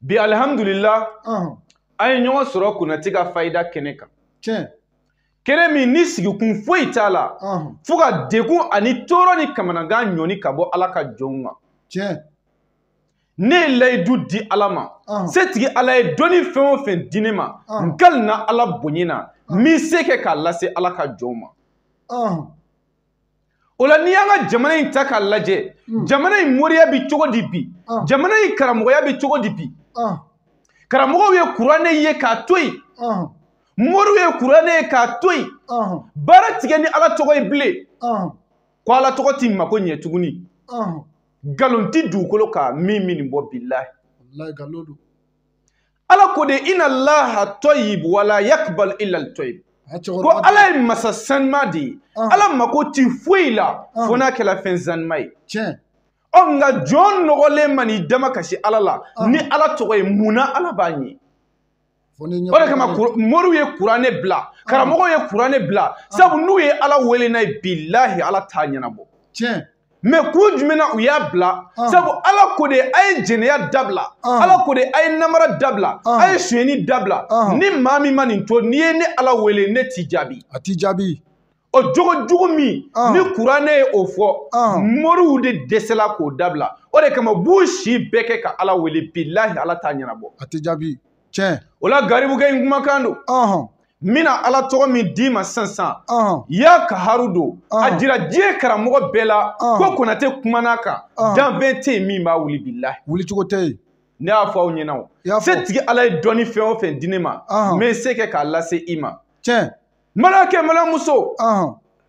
bi alihamudulila an ye ɲɔgɔn sɔrɔ konate ka fayida kɛnɛ kan tiɲɛ kɛnɛ min ni sigikun foyi t'a la fo ka degun ani tɔɔrɔ ni kamanagan ɲɔni ka bɔ ala ka jɔnw ma tiɲɛ ne ye layidu di ala ma setigi ala ye dɔnni fɛn o fɛn di ne ma n kalina ala bonya na n bi se kɛ k'a lase ala ka jɔnw ma o la n'i y'an ka jamana in ta k'a lajɛ hmm. jamana in moriya bɛ cogo di bi ah. jamana in karamɔgɔya bɛ cogo di bi ah. karamɔgɔw ye kuranɛ ye k'a to yen ah. moriw ye kuranɛ ye k'a to yen baara ti kɛ ni ala tɔgɔ ye bilen ko ala tɔgɔ t'i mako ɲɛ tuguni nkalon tɛ dugukolo kan min bi nin bɔ bilahi ala ko de ina laha tɔyib wala yakbal illa tɔyib ko ala ye masa sanuma de ye ala mako ti foyi la fo n'a kɛla fɛn sanuma ye ɔ nka jɔn nɔgɔlen man'i dama kasi ala la ni ala tɔgɔ ye mun na ala b'a ɲɛ o de kama moriw ye kuranɛ bila karamɔgɔw ye kuranɛ bila sabu n'u ye ala wele n'a ye bilahi ala t'a ɲɛnabɔ mɛ kun jumɛn na u y'a bila ah. sabu ala ko de a ye jɛnɛya dabila ah. ala ko de a ye namara dabila ah. a ye sonyɛni dabila ni maa min ma nin to n'i ye ne ala wele ne t'i jaabi a t'i jaabi o jogo jugu min ni kuranɛ ye o fɔ moriw de dɛsɛla k'o dabila o de kama b'u si bɛɛ kɛ ka ala wele bilahi ala t'a ɲɛnabɔ a tɛ jaabi tiɲɛ o la garibukɛ in kumakan don n bɛna ala tɔgɔ min d'i ma sisan sisan ya kaharu don a jira diɲɛ karamɔgɔ bɛɛ la ko konate kuman'a kan danfɛn tɛ yen min b'a wuli bilahi wulicogo tɛ yen ne y'a fɔ aw ɲɛna o setigi ala ye dɔnni fɛn o fɛn di ne ma n bɛ se kɛ k'a lase i ma tiɲɛ maliyɛnkɛ maliyɛnmuso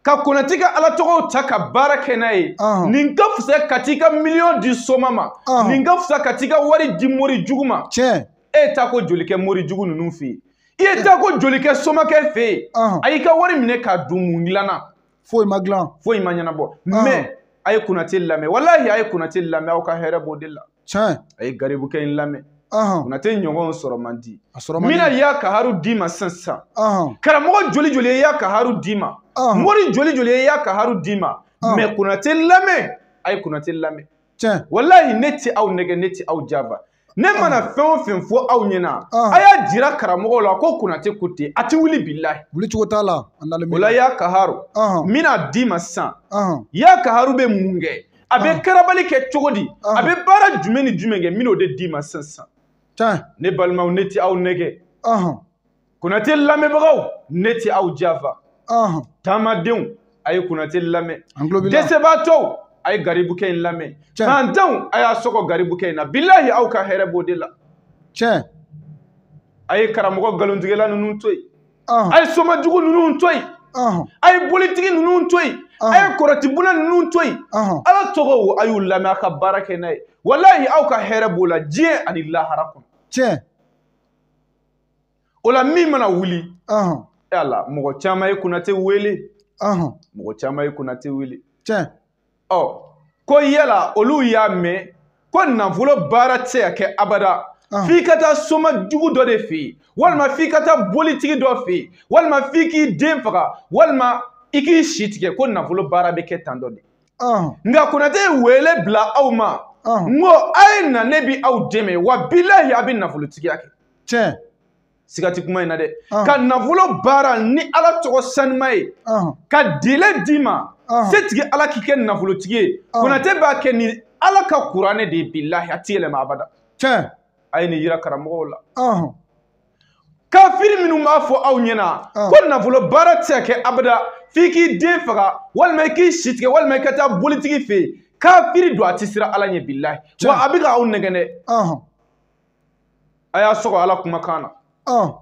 ka konate ka ala tɔgɔw ta ka baara kɛ n'a ye nin ka fisa ka t'i ka miliyɔn di soma ma nin ka fisa ka t'i ka wari di mori jugu ma tiɲɛ e ye taako joli kɛ mori jugu ninnu fɛ yen i ye taako joli kɛ somakɛ fɛ yen Ɔhɔn. a y'i ka wari minɛ k'a dun mun dilanna foyi ma dilan foyi ma ɲɛnabɔ Ɔhɔn. mɛ a ye konate lamɛn walahi a ye konate lamɛn aw ka hɛrɛ b'o de la tiɲɛ a ye garibukɛ in lamɛn ɔhɔn, konate ɲɔgɔn sɔrɔ man di a sɔrɔ man di. n bɛna ya kaharu d'i ma sisan sisan ɔhɔn, karamɔgɔ joli joli ye ya kaharu d'i ma Ɔhɔn. mori joli joli ye ya kaharu d'i ma Ɔhɔn. mɛ konate lamɛn a ye konate lamɛn tiɲɛ walahi ne tɛ aw nɛgɛn ne tɛ aw janfa ne mana fɛn o fɛn fɔ aw ɲɛna a y'a jira karamɔgɔw la ko konate ko ten a ti wuli bilahi wulicogo t'a la o la ya kaharu n bɛn'a d'i ma sisan ya kaharu bɛ mun kɛ a bɛ karabali kɛ cogo di a bɛ baara jumɛn ni jumɛn kɛ n bɛn'o de d'i ma sisan sisan ne balimaw ne ti aw nɛgɛn konate lamɛnbagaw ne tɛ aw jafa taamadenw a ye konate lamɛn dɛsɛbaatɔw a ye garibukɛ in lamɛn fantanw a y'a sɔgɔ garibukɛ in na bilahi aw ka hɛrɛ b'o de la tiɲɛ a ye karamɔgɔ nkalontigɛla ninnu to yen a ye soma jugu ninnu to yen a ye bolitigi ninnu to yen a ye kɔrɔtibuna ninnu to yen ala tɔgɔw a y'u lamɛn a ka baara kɛ n'a ye walahi aw ka hɛrɛ b'o la diɲɛ ani lahara kɔnɔ tiɲɛ o la min mana wuli e ala mɔgɔ caman ye konate wele mɔgɔ caman ye konate wele tiɲɛ ɔ ko yala olu y'a mɛn ko nafolo baara tɛ se ka kɛ abada f'i ka taa soma jugu dɔ de fɛ yen walima f'i ka taa bolitigi dɔ fɛ yen walima f'i k'i den faga walima i k'i si tigɛ ko nafolo baara bɛ kɛ tan dɔ de nka konate ye wele bila aw ma n ko a ye na ne bi aw dɛmɛ wa bilahi a bɛ nafolotigiya kɛ tiɲɛ siga ti kuma in na dɛ ah. ka nafolo baara ni ala tɔgɔ sanima ye ah. ka délai d'i ma ah. setigi ala k'i kɛ nafolotigi ye konate b'a kɛ ni ala ka kuranɛ de ye bilahi a ti yɛlɛma abada tiɲɛ a ye nin yira karamɔgɔw la kafiri minnu b'a fɔ aw ɲɛna ko nafolo baara tɛ se ka kɛ abada f'i k'i den faga walima i k'i si tigɛ walima i ka taa bolitigi fɛ yen kafiri don a ti siran ala ɲɛ bilahi wa a bɛ ka aw nɛgɛn dɛ a y'a sɔgɔ ala kumakan na ɔn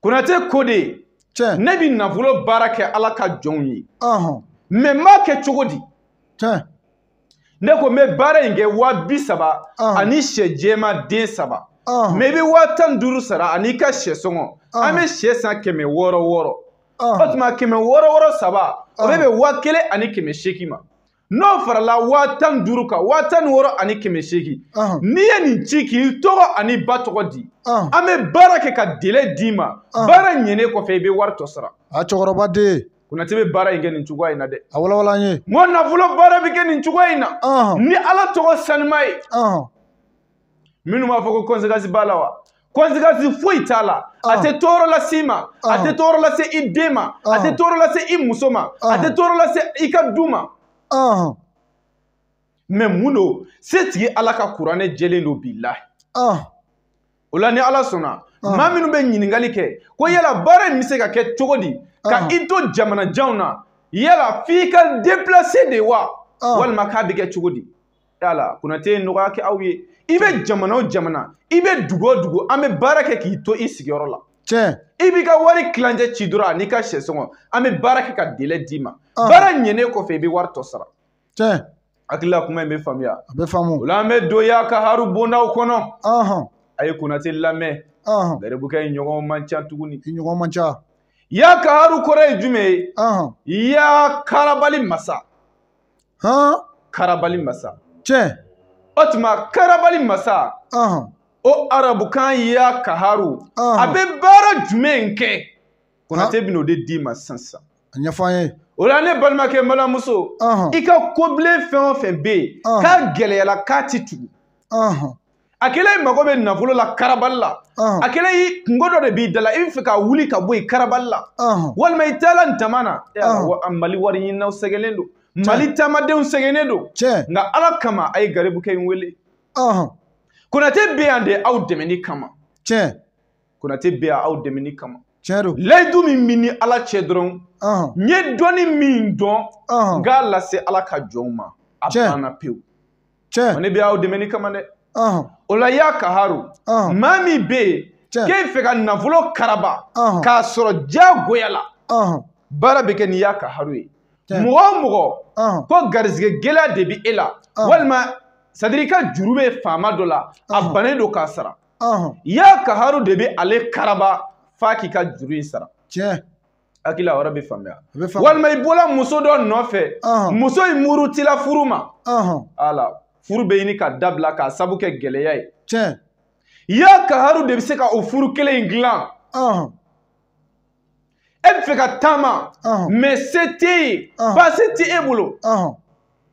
konate ko de tiɲɛ ne bɛ nafolo baara kɛ ala ka jɔnw ye ɔhɔn mɛ n b'a kɛ cogo di tiɲɛ ne ko n bɛ baara in kɛ waa bi saba Ɔn. ani sɛ jɛma den saba ɔhɔn mɛ i bɛ waa tan ni duuru sara ani i ka sɛ sɔngɔ Ɔn. an bɛ sɛ san kɛmɛ wɔɔrɔ wɔɔrɔ o ɔhɔn tuma kɛmɛ wɔɔrɔ wɔɔrɔ saba o bɛ Ɔn. bɛn waa kelen ani kɛmɛ seegin ma n'o farala waa tan ni duuru kan waa tan ni wɔɔrɔ ani kɛmɛ seegin n'i ye nin ci k'i tɔgɔ an'i ba tɔgɔ di an bɛ baara kɛ ka délai d'i ma baara ɲɛnen kɔfɛ i bɛ wari tɔ sara a cɛkɔrɔba den Konate bɛ baara in kɛ nin cogoya in na dɛ a walawala an ye n ko nafolo baara bɛ kɛ nin cogoya in na ni Ala tɔgɔ sanuma ye minnu b'a fɔ ko conséquence b'a la wa conséquence foyi t'a la a tɛ tɔɔrɔ lase i ma a tɛ tɔɔrɔ lase i den ma a tɛ tɔɔrɔ lase i muso ma a tɛ tɔɔrɔ lase i ka du ma mɛ mun don setigi ala ka kuranɛ jɛlen don bilahi o la ni ala sɔnna maa minnu bɛ ɲininkali kɛ ko yala baara in bɛ se ka kɛ cogo di ka i to jamana janw na yala f'i ka déplacer de wa walima k'a bɛ kɛ cogo di yala konate ye nɔgɔya kɛ aw ye i bɛ jamana o jamana i bɛ dugu o dugu an bɛ baara kɛ k'i to i sigiyɔrɔ la tiɲɛ i b'i ka wari tilancɛ ci dɔrɔn an'i ka sɛ sɔngɔ an bɛ baara kɛ ka délai d'i ma baara ɲɛnen kɔfɛ i bɛ wari tɔ sara tiɲɛ hakili la kuma in bɛ faamuya a bɛ faamu o la an bɛ don ya kaharu bondaw kɔnɔ a ye konate lamɛn garibukɛ in ɲɔgɔn man ca tuguni ɲɔgɔn man ca ya kaharu kɔrɔ ye jumɛn ye ya karabali masa hɔn karabali masa tiɲɛ o tuma karabali masa ɔhɔn o arabukan ya kaharu Ɔhɔn. a bɛ baara jumɛn kɛ konate bɛn'o de d'i ma sisan sisan a ɲɛfɔ an ye o la ne balimakɛ balimamuso ɔhɔn i ka kobilen fɛn o fɛn bɛ yen Ɔhɔn. k'a gɛlɛyala k'a ti tugu ɔhɔn a kɛla i mago bɛ nafolo la karabali la a kɛla i kunko dɔ de b'i da la i bɛ fɛ ka wuli ka bɔ yen karabali la walima i taala taama na mali wari ɲininaw sɛgɛnnen don mali taamadenw sɛgɛnnen don nka ala kama a ye garibukɛ in wele konate bɛ yan de aw dɛmɛni kama konate bɛ yan aw dɛmɛni kama layidu min bɛ n ni ala cɛ dɔrɔn n ye dɔnni min dɔn n k'a lase ala ka jɔnw ma a banna pewu tiɲɛ wa ne bɛ aw dɛmɛni kama dɛ ɔhɔn o la ya kaharu ɔhɔn maa min bɛ yen Tiɲɛ. k'e fɛ ka nafolo karaba Ɔhɔn. k'a sɔrɔ diyagoya la ɔhɔn baara bɛ kɛ ni ya kaharu ye Tiɲɛ. mɔgɔ o mɔgɔ ɔhɔn ko garizigɛ gɛlɛya de bɛ e la Ɔhɔn. walima c'est-à-dire i ka juru bɛ faama dɔ la a Ɔhɔn. bannen don k'a sara ɔhɔn ya kaharu de bɛ ale karaba f'a k'i ka juru in sara tiɲɛ hakili yɔrɔ bɛ faamuya walima i bɔla muso dɔ nɔfɛ muso in murutila furu ma ala furu bɛ ɲini ka dabila k'a sabu kɛ gɛlɛya ye tiɲɛ ya kaharu de bɛ se ka o furu kelen in dilan e bɛ fɛ ka taama mais se t'e ye pasi tɛ e bolo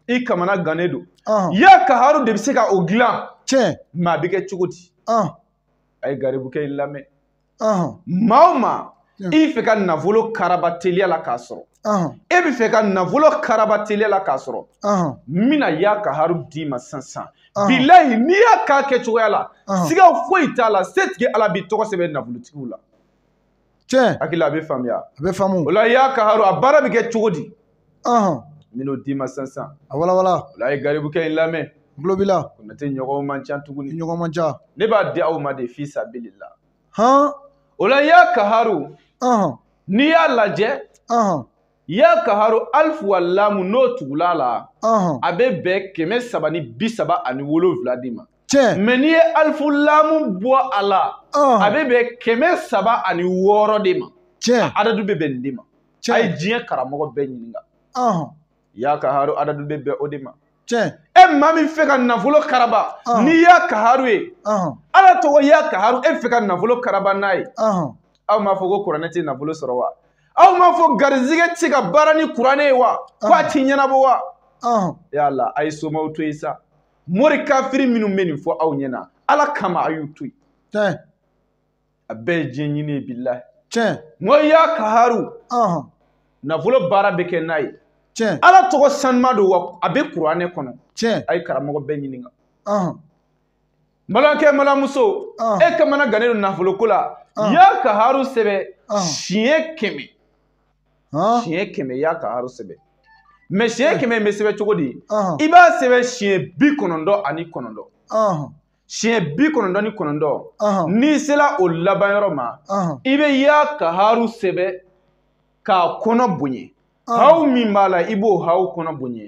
i kamana gannen don ya kaharu de bɛ se ka o dilan tiɲɛ mais a bɛ kɛ cogo di a ye garibukɛ in lamɛn maa o maa i fɛ ka nafolo karaba teliya la k'a sɔrɔ e bɛ fɛ ka nafolo karaba teliya la k'a sɔrɔ n bɛna ya kaharu d'i ma sisan bilayi n'i y'a k'a kɛcogoya la siga foyi t'a la setigi ala b'i tɔgɔ sɛbɛn nafolotigiw la tiɲɛ hakili la a bɛ faamuya a bɛ faamu o la ya kaharu a baara bɛ kɛ cogo di ɔhɔn n bɛn'o d'i ma sisan sisan a walawala o la a ye garibukɛ in lamɛn n tulo b'i la konate ɲɔgɔn man ca tuguni ɲɔgɔn man ca ne b'a di aw ma de fi sabilillah han o la ya kaharu ɔhɔn n'i y'a lajɛ ɔhɔn ya kaharu alifu wa lamu n'o tugula a la ɔhɔn a bɛ bɛn kɛmɛ saba ni bi saba ani wolonwula de ma tiɲɛ mais n'i ye alifu lamu bɔ a la a ɔhɔn bɛ bɛn kɛmɛ saba ani wɔɔrɔ de ma tiɲɛ adadu bɛ bɛn nin de ma a ye diɲɛ karamɔgɔ bɛɛ ɲininka ya kaharu adadu bɛ bɛn o de ma tiɲɛ e maa min fɛ ka nafolo karaba ni ya kaharu ye ala tɔgɔ ya kaharu e fɛ ka nafolo karaba n'a ye aw m'a fɔ ko kuranɛ tɛ nafolo sɔrɔ wa aw m'a fɔ garizigɛ tɛ ka baara ni kuranɛ ye wa ko a ti ɲɛnabɔ wa yala a ye somaw to yen sa mori kafiri minnu bɛ nin fɔ aw ɲɛna ala kama a y'u to yen a bɛɛ ye diɲɛ ɲini ye bilahi tiɲɛ n ko ya kaharu ɔhɔn nafolo baara bɛ kɛ n'a ye tiɲɛ ala tɔgɔ sanuma don wa a bɛ kuranɛ kɔnɔ tiɲɛ a ye karamɔgɔ bɛɛ ɲininka ɔhɔn balimakɛ balimamuso Ah. e kamana gannen don nafolo ko la Ah. ya kaharu sɛbɛn Ah. siɲɛ kɛmɛ ɔhɔn siɲɛ kɛmɛ ya kaharu sɛbɛn mɛ siɲɛ kɛmɛ in bɛ sɛbɛn cogo di ɔhɔn i b'a sɛbɛn siɲɛ bi kɔnɔntɔn ani kɔnɔntɔn ɔhɔn siɲɛ bi kɔnɔntɔn ni kɔnɔntɔn n'i sera o laban yɔrɔ ma i bɛ ya kaharu sɛbɛn k'a kɔnɔ bonya haw min b'a la i b'o haw kɔnɔ bonya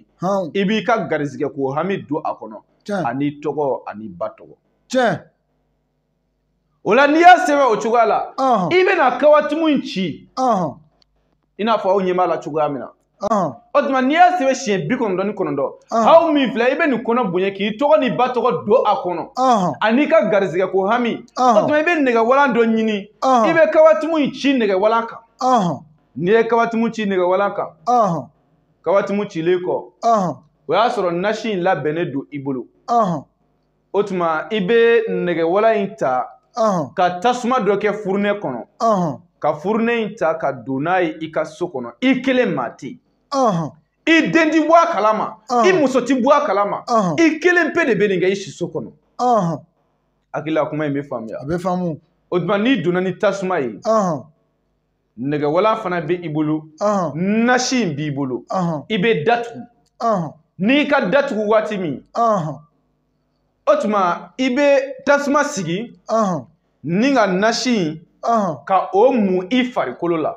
i b'i ka garizigɛ ko hami don a kɔnɔ an'i tɔgɔ an'i ba tɔgɔ tiɲɛ o la n'i y'a sɛbɛn o cogoya la i bɛna kawatimu in ci i n'a fɔ aw ɲɛ b'a la cogoya min na o tuma n'i y'a sɛbɛn siɲɛ bi kɔnɔntɔn ni kɔnɔntɔn haw min filɛ i bɛ nin kɔnɔ bonya k'i tɔgɔ n'i ba tɔgɔ don a kɔnɔ ani i ka garizigɛ ko hami o tuma i bɛ nɛgɛwalan dɔ ɲini i bɛ kawatimu in ci nɛgɛwalan kan n'i ye kawatimu ci nɛgɛwalan kan kawatimu cilen kɔ o y'a sɔrɔ nasi in labɛnnen don i bolo o tuma i bɛ nɛgɛwalan in ta ka tasuma dɔ kɛ furunɛ kɔnɔ ka furunɛ in ta ka don n'a ye i ka so kɔnɔ i kelen maa tɛ yen i den ti bɔ a kalama i muso ti bɔ a kalama i kelen pe de bɛ nin kɛ i siso kɔnɔ hakili la kuma in bɛ faamuya a bɛ faamu o tuma n'i donna ni tasuma ye nɛgɛwalan fana bɛ i bolo nasi in b'i bolo i bɛ da tugu n'i ka da tugu waati min o tuma i bɛ tasuma sigi n'i ka nasi in ka o mun i farikolo la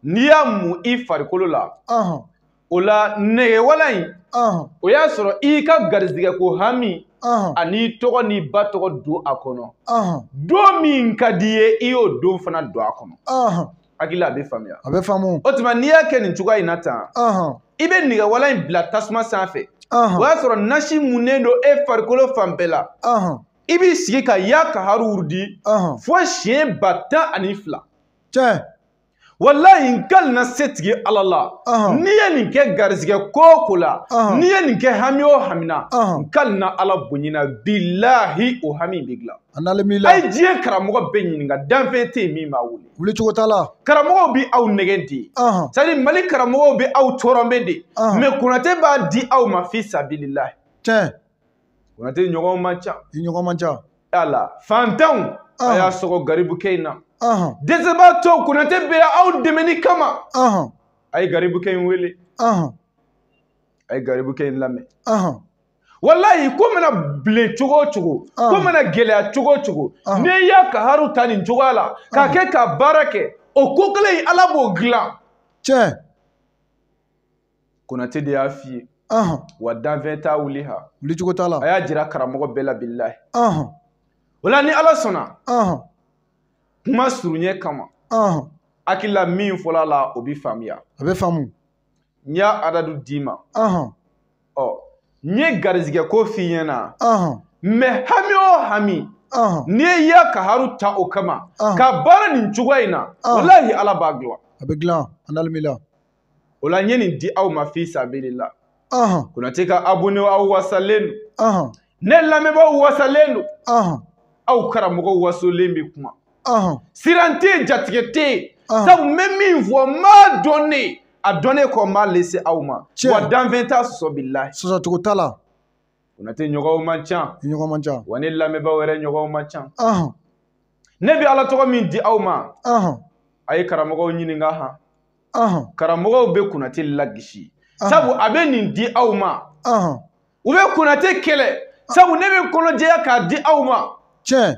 n'i y'a mun i farikolo la o la nɛgɛwalan in o y'a sɔrɔ i ka garizigɛ ko hami an'i tɔgɔ n'i ba tɔgɔ don a kɔnɔ don min ka di i ye i y'o don fana don a kɔnɔ hakili la a bɛ faamuya a bɛ faamu o tuma n'i y'a kɛ nin cogoya in na tan i bɛ nɛgɛwalan in bila tasuma sanfɛ o y'a sɔrɔ nasi munnen don e farikolo fan bɛɛ la i b'i sigi ka ya kaharu wurudi fo siɲɛ ba tan ani fila tiɲɛ walayi n kali na setigi ala la n'i ye nin kɛ garizigɛ ko o ko la n'i ye nin kɛ hami o hami na n kali na ala bonyina bilahi o hami bɛ dilan a ye diɲɛ karamɔgɔ bɛɛ ɲininka danfɛn tɛ yen min b'a wuli wuli cogo t'a la karamɔgɔw bɛ aw nɛgɛn de sari mali karamɔgɔw bɛ aw tɔrɔnpe de mɛ konate b'a di aw ma fi sabililahi tiɲɛ konate ɲɔgɔn man ca i ɲɔgɔn man ca ala fantanw a y'a sɔgɔ garibukɛ in na dɛsɛbaatɔw konate bɛ yan aw dɛmɛni kama a ye garibukɛ in wele a ye garibukɛ in lamɛn walayi ko mana bilen cogo o cogo ah. ko mana gɛlɛya cogo o cogo ah. n'i ya kaharu ta nin cogoya la k'a ah. kɛ ka baara kɛ o ko kelen in ala b'o dilan tiɲɛ konate de y'a f'i ye wa danfɛn t'a wuli ha wuli cogo t'a la a y'a jira karamɔgɔ bɛɛ la bilahi o la ni ala sɔnna kuma surunya kama hakilila min fɔla la o bɛ faamuya a bɛ faamu n y'a adadu d'i ma ɔ n ye garizigɛ ko f'i ɲɛna mɛ hami o hami n'i ye ya kaharu ta o kama ka baara nin cogoya in na walahi ala b'a dilan a bɛ dilan an dalimila o la n ye nin di aw ma fi sabilila konate ka abone aw wasalen don ne lamɛnbaaw wasalen don aw karamɔgɔ wasolen bɛ kuma siran tɛ yen jatigɛ tɛ yen sabu n bɛ min fɔ n b'a dɔn ne a dɔnnen kɔ n b'a lase aw ma wa danfɛn t'a sɔsɔ bilahi sɔsɔcogo t'a la konate ɲɔgɔnw man ca ɲɔgɔn man ca wa ne lamɛnbaaw yɛrɛ ɲɔgɔnw man ca ne bɛ ala tɔgɔ min di aw ma a ye karamɔgɔw ɲininka han karamɔgɔw bɛ konate lagisi sabu a bɛ nin di aw ma u bɛ konate kɛlɛ sabu ne bɛ kɔnɔjɛya k'a di aw ma tiɲɛ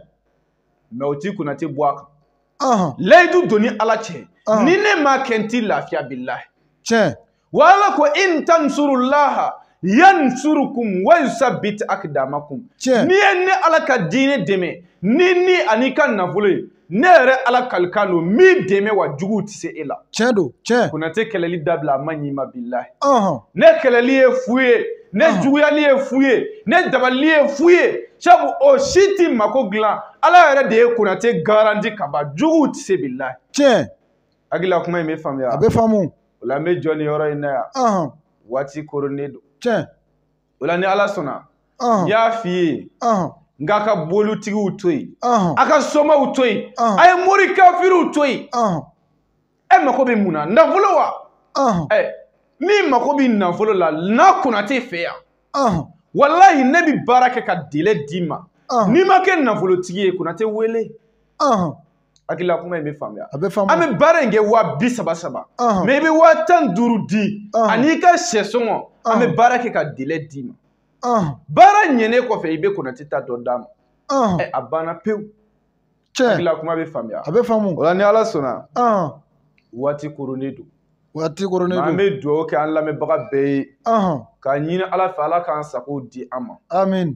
mɛ o ti konate bɔ a kan layidu don n ni ala cɛ ni ne m'a kɛ n ti lafiya bilahi tiɲɛ wa ala ko in tansurulaha yansurukum wa yusabbit akdamakum tiɲɛ n'i ye ne ala ka diinɛ dɛmɛ n'i ni an'i ka nafolo ye ne yɛrɛ ala kalikan don n b'i dɛmɛ wa juguw tɛ se e la tiɲɛ don tiɲɛ konate kɛlɛli dabila a man ɲi i ma bilahi ɔhɔn ne kɛlɛli ye fu ye ne Ɔhɔn. juguyali ye fu ye ne dabalili ye fu ye sabu o si t'i mako dilan ala yɛrɛ de ye konate garanti ka ban juguw tɛ se bilahi tiɲɛ hakilila kuma in bɛ faamuya a bɛ faamu o la n bɛ jɔ nin yɔrɔ in na yan ɔhɔn waati koronnen don tiɲɛ o la ni ala sɔnna n ɔhɔn y'a f'i ye ɔhɔn n k'a ka bolitigiw to yen ɔhɔn a ka somaw to yen Ɔhɔn. a ye mori kafiriw to yen ɔhɔn e mako bɛ mun na nafolo wa ɔhɔn e min mako bɛ nafolo la na konate fɛ yan ɔhɔn walahi ne bɛ baara kɛ ka dele d'i ma Ɔhɔn. n'i ma kɛ nafolotigi ye konate wele ɔhɔn hakilila kuma in bɛ faamuya a bɛ faamuya an bɛ baara in kɛ waa bi saba saba mais i bɛ waa tan duuru di an'i ka sɛ sɔngɔ an bɛ baara kɛ ka délai d'i ma baara ɲɛnen kɔfɛ i bɛ konate ta tɔ d'a ma a banna pewu tiɲɛ hakilila kuma bɛ faamuya a bɛ faamu o la ni ala sɔnna waati koronnen don waati koronnen don an bɛ dugawu kɛ an lamɛnbaga bɛɛ ye k'a ɲini ala fɛ ala k'an sago di an ma amin